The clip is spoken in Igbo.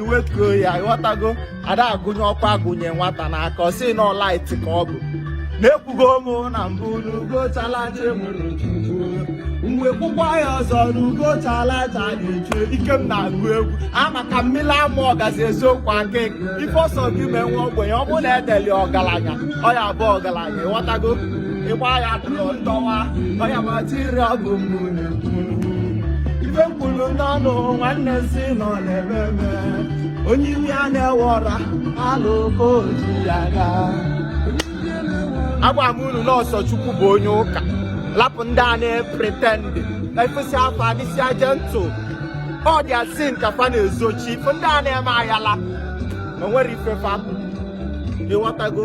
wetuo ya ịghọtago ada agụnye ọkụ a gụnye nwata n'aka ọ sị na ọ light ka ọ bụ na ekwugo m na mbụ n'ugo chalacha emenụ mụ ekwukwa ya ọzọ n'ugo chalacha na-eche Ikem na-agụ egwu ama ka mmili ama ọgazi eziokwu aka ife ọ sọ gị mee nwa ogbenye ọ bụrụ na e deli ọgaranya ọ ya-abụ ọgaranya ịghọtago ịgba ya tụrụ ndọwa ọya ma tiri ọ bụ mụ na-ekwu ife m kwulu n'ọnụ nwanne si nọ na-eme eme onye imi a na-ewe ọra alụko ji ya gaa agwa m unu na ọ sọ Chukwu bụ onye ụka lapụ ndị a na-epretendị na efesi afọ adịsi aje ntụ ọ dị as in ka fa na-ezochi ife ndị a na-eme ayala ma nwere ife fa ịghọtago